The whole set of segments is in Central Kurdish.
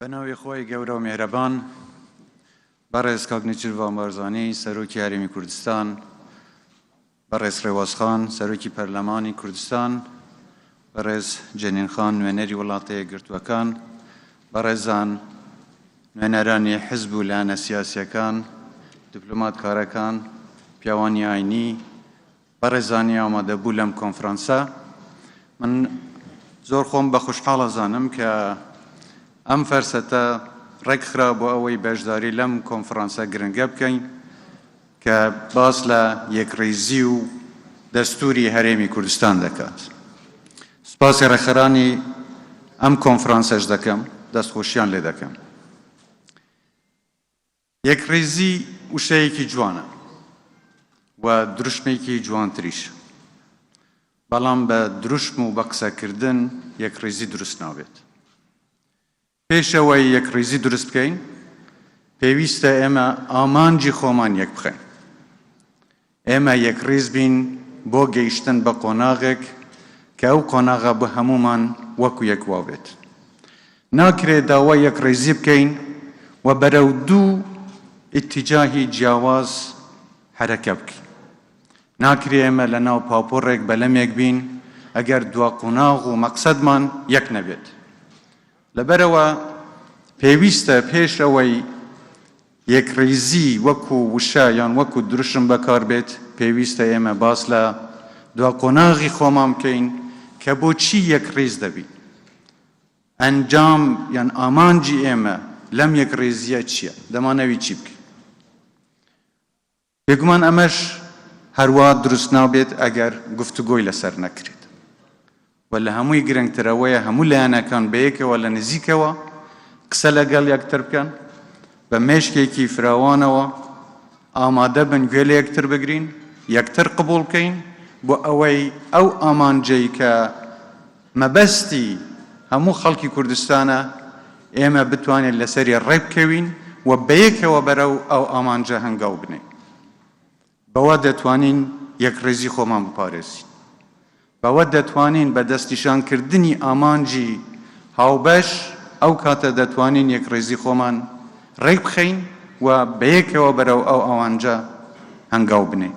بە ناوی خوای گەورە و میهرەبان. بەڕێز کاک نێچیرڤان بارزانی سەرۆکی هەرێمی کوردستان، بەڕێز ڕێواز خان سەرۆکی پەرلەمانی کوردستان، بەڕێز جەنین خان نوێنەری وڵاتە یەکگرتووەکان، بەڕێزان نوێنەرانی حزب و لایەنە سیاسیەکان، دیپلۆماتکارەکان، پیاوانی ئاینی، بەڕێزانی ئامادەبوو لەم کۆنفرانسە، من زۆر خۆم بە خوشحاڵ ئەزانم کە ئەم فەرسەتە ڕێکخرا بۆ ئەوەی بەشداری لەم کۆنفرانسە گرنگە بکەین کە باس لە یەکڕیزی و دەستووری هەرێمی کوردستان دەکات. سوپاسی ڕێکخەرانی ئەم کۆنفرانسەش دەکەم، دەستخۆشیان لێ دەکەم. یەکڕیزی وشەیەکی جوانە و دروشمێکی جوانتریش، بەڵام بە دروشم و بە قسەکردن یەکڕیزی دروست نابێت. پێش ئەوەی یەکڕیزی دروست بکەین، پێویستە ئێمە ئامانجی خۆمان یەکبخەین. ئێمە یەکڕیز بین بۆ گەیشتن بە قۆناغێک کە ئەو قۆناغە بۆ هەموومان وەکو یەک وا بێت. ناکرێت داوای یەکڕیزی بکەین و بەرەو دوو ئیتیجاهی جیاواز حەرەکە بکەین. ناکرێت ئێمە لە ناو پاپۆڕێک بەلەمێک بین ئەگەر دوا قۆناغ و مەقسەدمان یەک نەبێت. لەبەرئەوە پێویستە پێش ئەوەی. یەکڕیزی وەکو وشە یان وەکو دروشم بەکاربێت، پێویستە ئێمە باس لە دوا قۆناغی خۆمان بکەین کە بۆچی یەکڕیز دەبین؟ ئەنجام یان ئامانجی ئێمە لەم یەکڕیزییە چییە؟ دەمانەوی چی بکەین؟ بێگومان ئەمەش هەروا دروست نابێت ئەگەر گفتوگۆی لەسەر نەکرێت و لە هەمووی گرنگتر ئەوەیە هەموو لایەنەکان بەیەکەوە لە نزیکەوە قسە لەگەڵ یەکتر بکەن، بە مێشکێکی فراوانەوە ئامادە بن گوێ لە یەکتر بگرین، یەکتر قبوڵ بکەین بۆ ئەوەی ئەو ئامانجەی کە. مەبەستی هەموو خەڵکی کوردستانە ئێمە بتوانین لەسەری ڕێکبکەوین و بەیەکەوە بەرەو ئەو ئامانجە هەنگاو بنێین. بەوە دەتوانین یەکڕیزی خۆمان بپارێزین. بەوە دەتوانین بە دەستنیشانکردنی ئامانجی هاوبەش ئەو کاتە دەتوانین یەکڕیزی خۆمان ڕێکبخەین و بەیەکەوە بەرەو ئەو ئامانجە هەنگاو بنێین.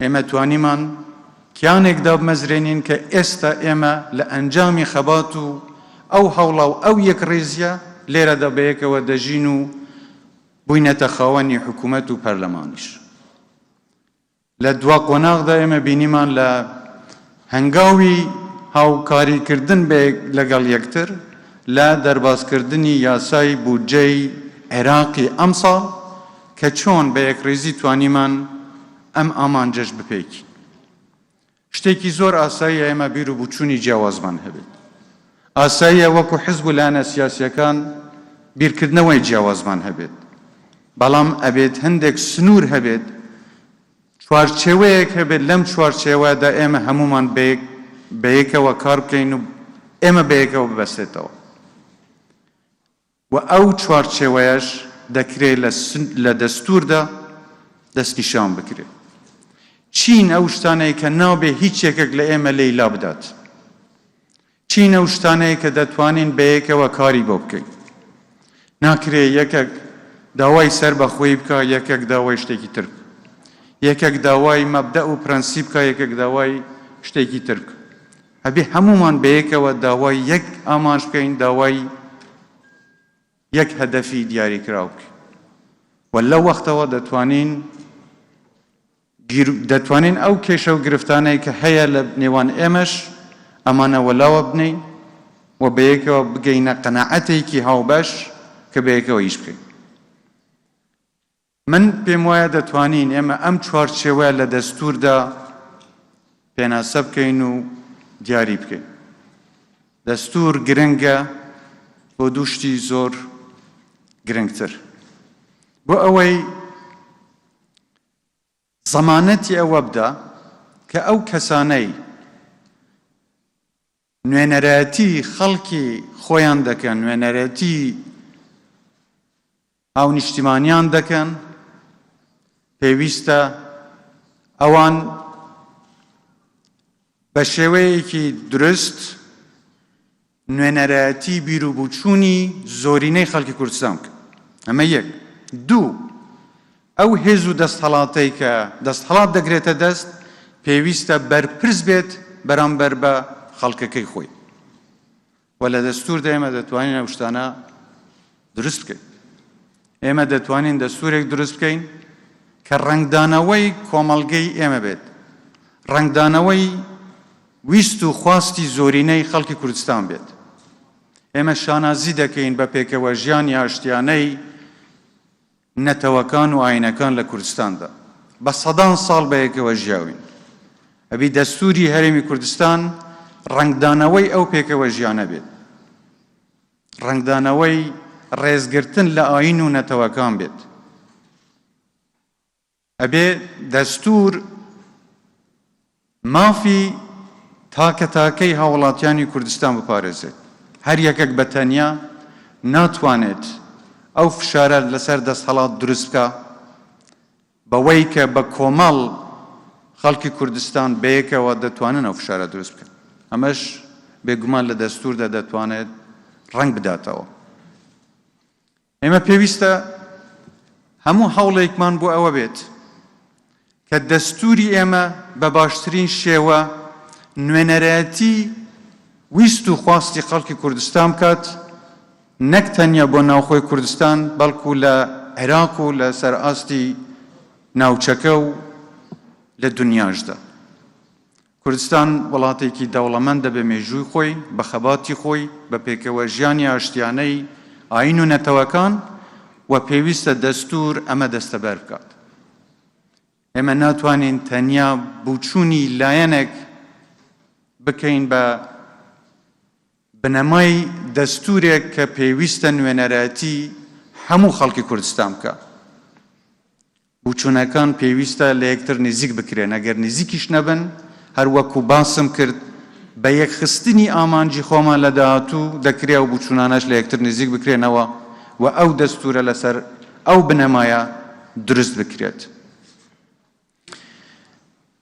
ئێمە توانیمان کیانێک دابمەزرێنین کە ئێستا ئێمە لە ئەنجامی خەبات و ئەو هەوڵە و ئەو یەکڕیزیە لێرەدا بەیەکەوە دەژین و بووینەتە خاوەنی حکوومەت و پەرلەمانیش. لە دوا قۆناغدا ئێمە بینیمان لە هەنگاوی هاوکاریکردن لەگەڵ یەکتر لە دەربازکردنی یاسای بودجەی عێراقی ئەمساڵ کە چۆن بە یەکڕیزی توانیمان ئەم ئامانجەش بپێکین. شتێکی زۆر ئاساییە ئێمە بیر و بوچوونی جیاوازمان هەبێت. ئاساییە وەکو حزب و لایەنە سیاسییەکان بیرکردنەوەی جیاوازمان هەبێت. بەڵام ئەبێت هەندێک سنوور هەبێت چوارچێوەیەک هەبێت، لەم چوارچێوەدا ئێمە هەموومان بەیەک بەیەکەوە کار بکەین و ئێمە بەیەکەوە ببەستێتەوە و ئەو چوارچێوەیەش دەکرێت لە دەستوردا دەستنیشان بکرێت. چین ئەو شتانەیە کە نابێ هیچ یەکێک لە ئێمە لێی لابدات. چین ئەو شتانەیە کە دەتوانین بەیەکەوە کاری بۆ بکەین. ناکرێ یەکەک داوای سەر بە خۆی بکا یەکەک داوای شتێکی تر بکا. یەکەک داوای مەبدەئ و پرەنسیپ بکا یەکەک داوای شتێکی تر بکا. ئەبێ هەموومان بەیەکەوە داوای یەک ئامانج بکەین داوای یەک هەدەفی دیاریکراو بکەین و لەو وەختەوە دەتوانین گیر و دەتوانین ئەو کێشە و گرفتانەی کە هەیە لە نێوان ئێمەش ئەمانە وەلاوە بنێین و بەیەکەوە بگەینە قەناعەتێکی هاوبەش کە بەیەکەوە ئیش بکەین. من پێم وایە دەتوانین ئێمە ئەم چوارچێوەیە لە دەستووردا پێناسە بکەین و دیاری بکەین. دەستوور گرنگە بۆ دوو شتی زۆر گرنگتر. بۆ ئەوەی زەمانەتی ئەوە بدا کە ئەو کەسانەی نوێنەرایەتی خەڵکی خۆیان دەکەن، نوێنەرایەتی هاونیشتیمانیان دەکەن، پێویستە ئەوان بە شێوەیەکی دروست نوێنەرایەتی بیر و بوچوونی زۆرینەی خەڵکی کوردستان بکەن. ئەمە یەک. دوو، ئەو هێز و دەستهەڵاتەی کە دەستهەڵات دەگرێتە دەست، پێویستە بەرپرس بێت بەرامبەر بە خەڵکەکەی خۆی و لە دەستووردا ئێمە دەتوانین ئەو شتانە دروست بکەین. ئێمە دەتوانین دەستوورێک دروست بکەین کە ڕەنگدانەوەی کۆمەڵگەی ئێمە بێت، ڕەنگدانەوەی ویست و خواستی زۆرینەی خەڵکی کوردستان بێت. ئێمە شانازی دەکەین بە پێکەوەژیانی ئاشتیانەی نەتەوەکان و ئایینەکان لە کوردستاندا. بە سەدان ساڵ بەیەکەوە ژیاوین. ئەبی دەستووری هەرێمی کوردستان ڕەنگدانەوەی ئەو پێکەوەژیانە بێت. ڕەنگدانەوەی ڕێزگرتن لە ئایین و نەتەوەکان بێت. ئەبێ دەستوور مافی تاکە تاکەی هاوڵاتیانی کوردستان بپارێزێت، هەر یەکەک بە تەنیا ناتوانێت ئەو فشارە لەسەر دەستهەڵات دروست بکا بەوەی کە بە کۆمەڵ خەڵکی کوردستان بەیەکەوە دەتوانن ئەو فشارە دروست بکەن، ئەمەش بێگومان لە دەستووردا دەتوانێت ڕەنگ بداتەوە. ئێمە پێویستە هەموو هەوڵێکمان بۆ ئەوە بێت کە دەستوری ئێمە بە باشترین شێوە نوێنەرایەتی ویست و خواستی خەڵکی کوردستان بکات نەک تەنیا بۆ ناوخۆی کوردستان بەڵکو لە عێراق و لە سەر ئاستی ناوچەکە و لە دنیاشدا کوردستان وڵاتێکی دەوڵەمەندە بە مێژووی خۆی، بە خەباتی خۆی، بە پێکەوەژیانی ئاشتیانەی ئایین و نەتەوەکان و پێویستە دەستوور ئەمە دەستەبەر بکات. ئێمە ناتوانین تەنیا بوچوونی لایەنێک بکەین بە بنەمای دەستوورێک کە پێویستە نوێنەرایەتی هەموو خەڵکی کوردستان بکات. بوچونەکان پێویستە لە یەکتر نزیک بکرێن، ئەگەر نزیکیش نەبن، هەر وەکو باسم کرد بە یەکخستنی ئامانجی خۆمان لە داهاتوو دەکرێ ئەو بوچونانەش لە یەکتر نزیک بکرێنەوە و ئەو دەستورە لەسەر ئەو بنەمایە دروست بکرێت.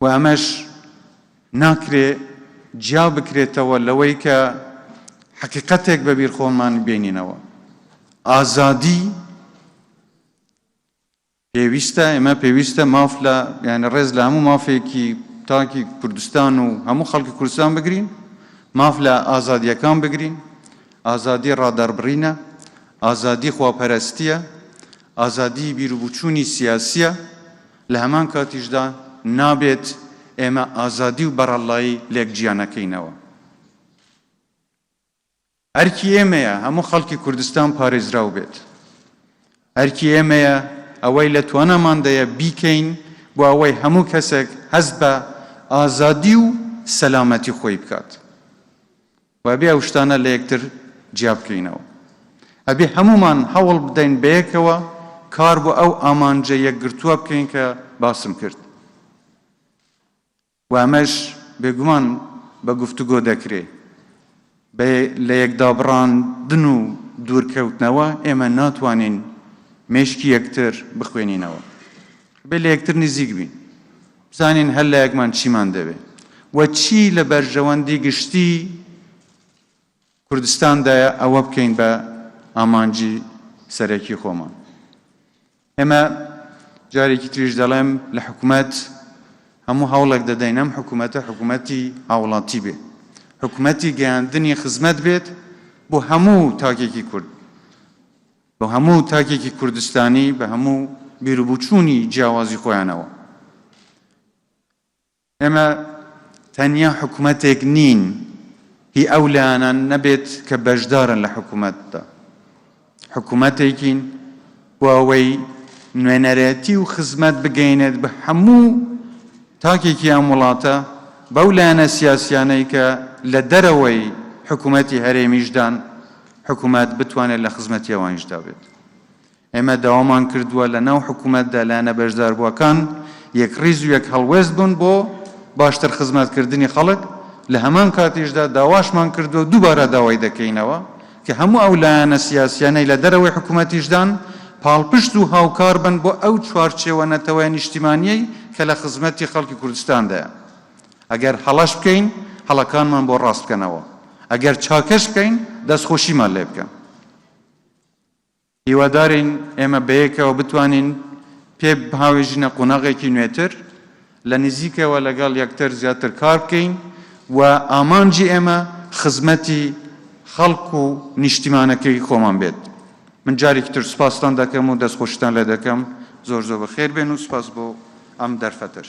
و ئەمەش ناکرێ جیا بکرێتەوە لەوەی کە حەقیقەتێک بە بیر خۆمان بێنینەوە، ئازادی پێویستە، ئێمە پێویستە ماف لە یانی ڕێز لە هەموو مافێکی تاکی کوردستان و هەموو خەڵکی کوردستان بگرین، ماف لە ئازادیەکان بگرین، ئازادی ڕادەڕبڕینە، ئازادی خواپەرەستیە، ئازادی بیروبچوونی سیاسیە، لە هەمان کاتیشدا نابێت ئێمە ئازادی و بەڕەڵڵایی لێک جیا نەکەینەوە. ئەرکی ئێمەیە هەموو خەڵکی کوردستان پارێزراو بێت. ئەرکی ئێمەیە ئەوەی لە تواناماندەیە بیکەین بۆ ئەوەی هەموو کەسێک هەست بە ئازادی و سەلامەتی خۆی بکات. و ئەبێ ئەو شتانە لە یەکتر جیا بکەینەوە. ئەبێ هەموومان هەوڵ بدەین بەیەکەوە کار بۆ ئەو ئامانجە یەکگرتووە بکەین کە باسم کرد و ئەمەش بێگومان بە گفتوگۆ دەکرێ. بە لەیەکدابڕاندن و دوورکەوتنەوە ئێمە ناتوانین مێشکی یەکتر بخوێنینەوە. ئەبێ لە یەکتر نزیک بین بزانین هەر لایەکمان چیمان دەوێ و چی لە بەرژەوەندی گشتی کوردستاندایە ئەوە بکەین بە ئامانجی سەرەکی خۆمان. ئێمە جارێکی تریش دەڵێم لە حکومەت هەموو هەوڵێک دەدەین ئەم حکومەتە حکومەتی هاوڵاتی بێ حکومەتی گەیاندنی خزمەت بێت بۆ هەموو تاکێکی کورد. بە هەموو تاکێکی کوردستانی بە هەموو بیروبوچوونی جیاوازی خۆیانەوە. ئێمە تەنیا حکومەتێک نین هی ئەو لایەنان نەبێت کە بەشدارن لە حکومەتدا. حکومەتێکین بۆ ئەوەی نوێنەرێتی و خزمەت بگەینێت بە هەموو تاکێکی ئەم وڵاتە بەو لایەنە سیاسیانەی کە لە دەرەوەی حکومەتی هەرێمیشدان حکومەت بتوانێت لە خزمەتی ئەوانیشدا بێت. ئێمە داوامان کردووە لە ناو حکومەتدا لایەنە بەشداربووەکان یەکڕیز و یەک هەڵوێست بن بۆ باشتر خزمەتکردنی خەڵک، لە هەمان کاتیشدا داواشمان کردووە و دووبارە داوای دەکەینەوە کە هەموو ئەو لایەنە سیاسییانەی لە دەرەوەی حکومەتیشدان پاڵپشت و هاوکار بن بۆ ئەو چوارچێوە نەتەوە نیشتیمانییەی کە لە خزمەتی خەڵکی کوردستاندایە. ئەگەر هەڵەش بکەین، هەڵەکانمان بۆ ڕاست بکەنەوە، ئەگەر چاکەش بکەین، دەستخۆشیمان لێ بکەن. هیوادارین ئێمە بەیەکەوە بتوانین پێ بهاوێژینە قۆناغێکی نوێتر، لە نزیکەوە لەگەڵ یەکتر زیاتر کار بکەین و ئامانجی ئێمە خزمەتی خەڵک و نیشتیمانەکەی خۆمان بێت. من جارێکی تر سوپاستان دەکەم و دەستخۆشیتان لێ دەکەم. زۆر زۆر بەخێر بێن و سوپاس بۆ ئەم دەرفەتەش.